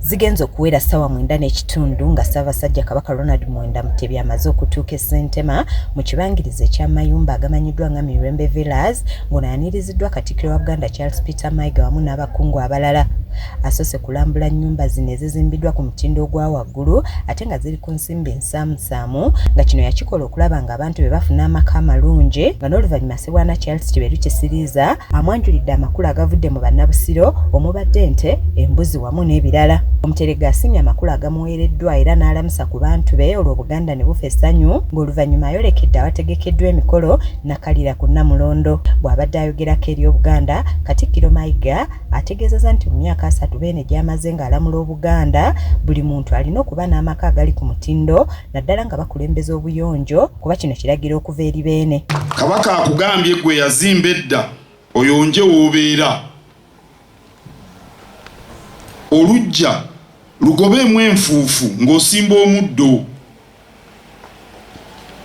zigenze okuwera ssaawa mwenda n'ekitundu nga ssaabasajja kabaka ronald mwenda mutebi amaze okutuuka esentema mu kibangirizi ekyamayumba agamanyiddwa nga mirembe villas ngono ayaniriziddwa katikiro wa buganda charles peter maiga wamu n'abakungu abalala asoose kulambula nnyumba zino ezizimbiddwa ku mutindo ogwa waggulu ate nga ziri ku nsimbi Samusaamu nga kino yakikola okulaba nga abantu be bafuna amaka amalungi nga n'oluvannyuma Ssebwana Charles Kiberu Kisiriiza amwanjulidde amakulu agavudde mu bannabusiro omubadde ente, embuzi wamu n'ebirala. Omuteregga asiimye amakulu agamuweereddwa era n'alamusa ku bantu be olwo Buganda ne bufa essanyu ng'oluvannyuma ayolekedde awategekeddwa emikolo nakalira ku Nnamulondo. Bw'abadde ayogerako eri Obuganda, Katikkiro Mayiga ategeezezza nti mu myaka asatu beene gy'amaze ng'alamula obuganda buli muntu alina okuba n'amaka agali ku mutindo naddala nga bakulembeza obuyonjo kuba kino kiragira okuva eri beene kabaka akugambye gwe yazimba edda oyonje woobeera olujja lugobeemu enfuufu ng'osimba omuddo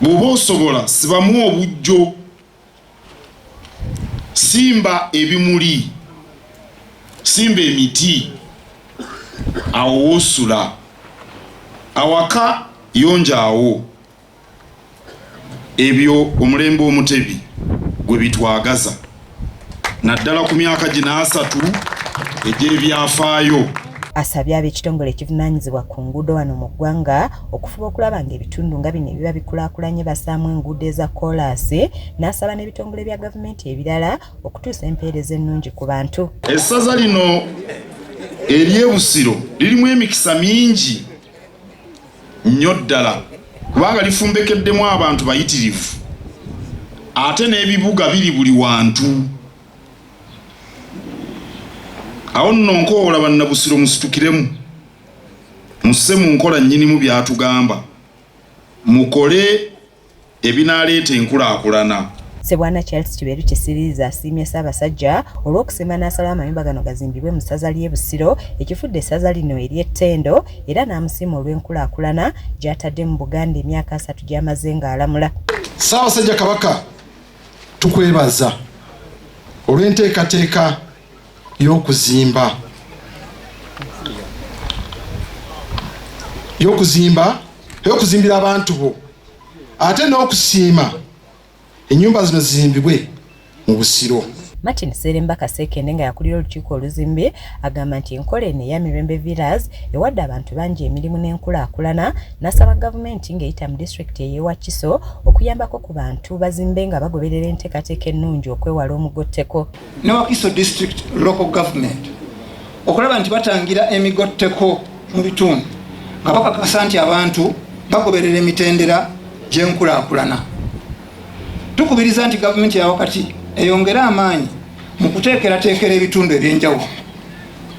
bw'oba osobola sibamu obujjo simba ebimuli simba emiti awo wosula awaka yonja awo ebyo omulembe omutebi gwe bitwagaza naddala ku myaka gino asatu egy'ebyafaayo. Asabye ab'ekitongole ekivunaanyizibwa ku nguudo wano mu ggwanga okufuba okulaba ng'ebitundu nga bino ebiba bikulaakulanye basaamu enguudo eza koolaasi n'asaba n'ebitongole bya gavumenti ebirala okutuusa empeereza ennungi ku bantu. Essaza lino ery'e Busiro lirimu emikisa mingi nnyo ddala kubanga lifumbekeddemu abantu bayitirivu ate n'ebibuga biri buli wantu. awo nno nkoowola bannabusiro musitukiremu musse mu nkola nnyinimu by'atugamba mukole ebinaaleeta enkulaakulana Ssebwana Charles Kiberu Kisiriiza asiimye Ssaabasajja olw'okusiima n'asalawo amayumba gano gazimbibwe mu ssaza ly'e Busiro ekifudde essaza lino ery'ettendo era n'amusiima olw'enkulaakulana gy'atadde mu Buganda emyaka asatu gy'amaze ng'alamula. Ssaabasajja Kabaka Tukwebaza olw'enteekateeka y'okuzimba y'okuzimba y'okuzimbira abantu bo ate n'okusiima ennyumba zino zizimbibwe mu Busiro. Martin Sseremba Kasekende nga yakulira olukiiko oluzimbi Agamba nti enkola eno eya Mirembe Villas ewadde abantu bangi emirimu n'enkulaakulana n'asaba gavumenti ng'eyita mu disitulikiti ey'e Wakiso okuyambako ku bantu bazimbe nga bagoberera enteekateeka ennungi okwewala omugotteko ne Wakiso District Local Government okulaba nti batangira emigotteko mu bitundu nga bakakasa nti abantu bagoberera emitendera gy'enkulaakulana. Tukubiriza nti gavumenti ya wakati eyongere amaanyi mu kuteekerateekera ebitundu eby'enjawulo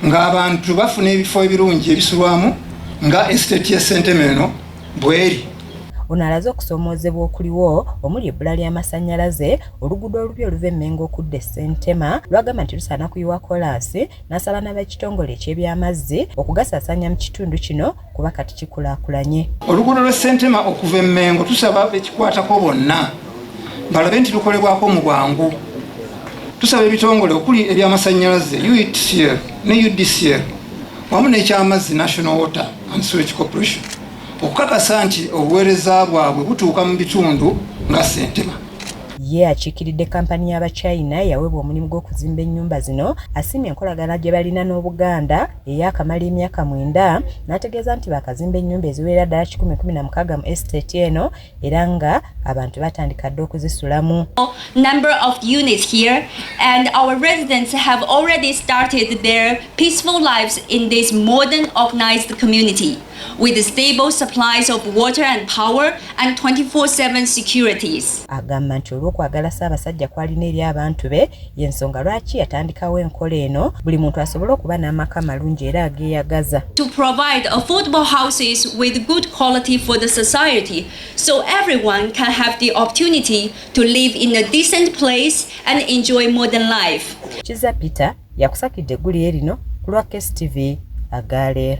ng'abantu bafuna ebifo ebirungi ebisulwamu nga esiteeti ya ssentema eno bweri ono alaze okusoomoozebwa okuliwo omuli ebbula ly'amasannyalaze oluguudo olubi oluva emmengo okudda essentema lwagamba nti lusaana kuyiwa kolaasi n'asaba n'abekitongole eky'ebyamazzi okugasaasaanya mu kitundu kino kuba kati kikulakulanye. Oluguudo lwe Ssentema okuva e Mmengo tusaba bekikwatako bonna balabe nti lukolebwako mu bwangu. Tusaba ebitongole okuli ebyamasannyalaze UETCL ne UDCL wamu n'ekyamazzi National Water and Sewage Corporation okukakasa nti obuweereza bwabwe butuuka mu bitundu nga Ssentema. Ye akiikiridde kampani y'Abachina eyaweebwa omulimu gw'okuzimba ennyumba zino asiimye enkolagana gye balina n'Obuganda eyaakamala emyaka mwenda n'ategeeza nti baakazimba ennyumba eziwerera ddala kikumi kumi na mukaaga mu estate eno era nga abantu batandika dda okuzisulamu number of units here and our residents have already started their peaceful lives in this modern organized community with stable supplies of water and power and 24-7 securities. Agamba nti olw'okwagala Ssaabasajja kwalina eri abantu be y'ensonga lwaki yatandikawo enkola eno buli muntu asobole okuba n'amaka malungi era ageeyagaza. To provide affordable houses with good quality for the society so everyone can have the opportunity to live in a decent place and enjoy modern life. Kiza Peter yakusakidde eggulire lino ku lwa KSTV Agale.